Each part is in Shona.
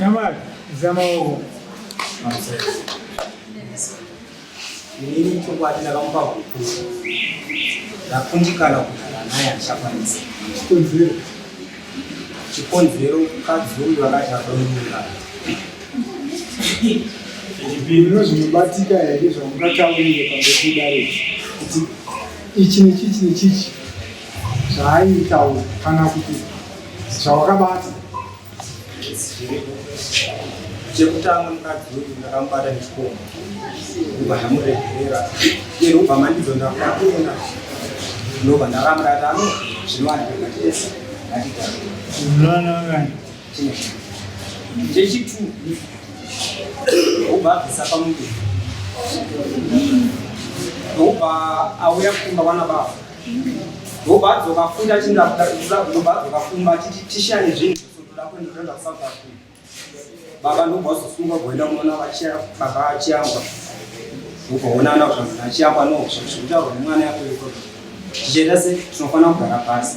Tamar, zama ovo. Ini chokwadi ndakamupa huku ndakundikana kugara naye handichakwanisa chikonzero chikonzero mukadzi uyu akati adomuka Zvino zvinobatika here zvamungataurire pamekudare kuti ichi nechichi nechichi zvaaitaura kana kuti zvawakabata chekutanga mukadzi uyu ndakamubata nechikomo kubva ndamuregerera iye ndokubva mandidzo ndakuenda ndobva ndakamurata ano zvinowanikwa ngatese ngatitaunononono chechitu obva abvisa pamuti obva auya kumba vana baba obva adzoka futi achinda kuda kuda obva adzoka kumba achiti tishani zvinhu zvesotoda kuenda kuenda kusouth africa baba ndobva azosunga kuenda kunoona baba achiyamba ukaonana zvanhu achiyamba no zvekutaurwa nemwana yako yoko tichienda se tinofanira kugara pasi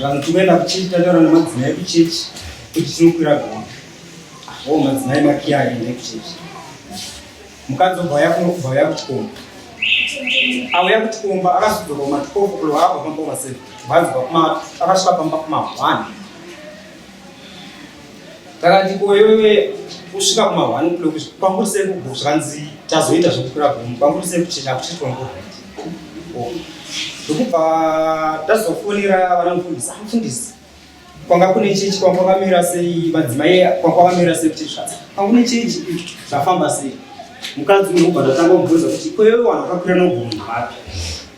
Vanhu tinoenda kuchechi tataura nemadzimai kuchechi kuti tinokwira gona o oh, madzimai makiya aende kuchechi mukadzi obva yauya kuchikomba auya kuchikomba akazodzoka kumatikofu kuloakwa pamba kumaseve vanzi vakumatu akasvika pamba kuma one Takati ko iwewe kusvika kuma 1 o'clock kwanguri sei kugo zvanzi tazoita zvekukwira gomo kwanguri sei kuti chakuchiitwa ngo ndokubva tazofonera vana mufundisi amufundisi ah, kwanga kune chechi kwanga kwamira sei madzimai kwanga kwamira sei kuti zvatsa kwanga kune chechi zvafamba sei mukadzi unobva ndatanga kubvunza kuti ko iwewe wanakwakira nogomo vapi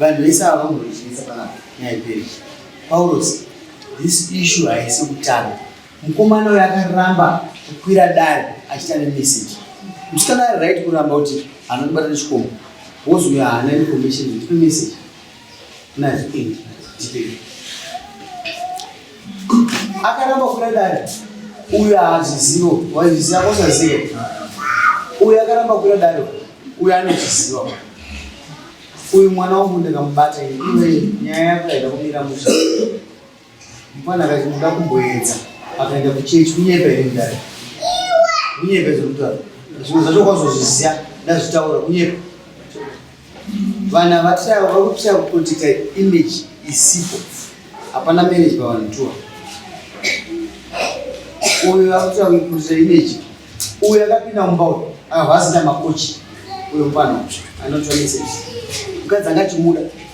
vanhu vese ava vamurichinisa panapa nyaya iperi paurosi this issue haisi kutanga mukomana uyo akaramba kukwira dare achita nemessage musikana ari right kuramba kuti anondibata nechikombo wozouya haana information ndipe message akaramba kuda dare uyo haazvizivo wazviziva kosazivo uyo akaramba kuda dare uyo anozviziva uyu mwana wangu ndakamubata iwe nyaya yako yaida kumira musha Mwana akaita kuda kumboedza akaenda kuchechi kunyepa here mudare? Kunyepa izvo mutara. Zvimwe zvacho kwazozviziva ndazvitaura kunyepa. Vanhu havatiraya vakutira kuprotecta image isipo. Hapana marriage pavanhu tuwa. Uyo akutira kuprotecta image. Uyo akapinda mumba uyo akabva asina makochi. Uyo mfana anotwa message. Mukadzi angachimuda.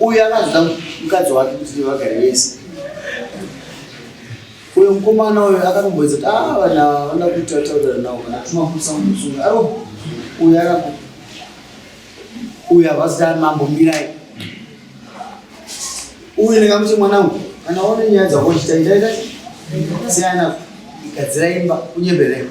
uyo akazoda mukadzi wake kuti vagare vese uyo mukomana uyo akatomboedza kuti ah vana vana kuita taurira nawo kana timakusa musunga aro uyo arako uyo havazita mambo mirai uyo ndingamuti mwanangu kana one nyaya dzakochita itaita siyana igadzira imba kunyebereka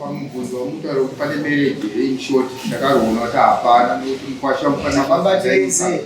pamubvunzo wamutaura kuti pane mereji here inshort ndakaroona kuti hapana nekuti mukwasha mufanira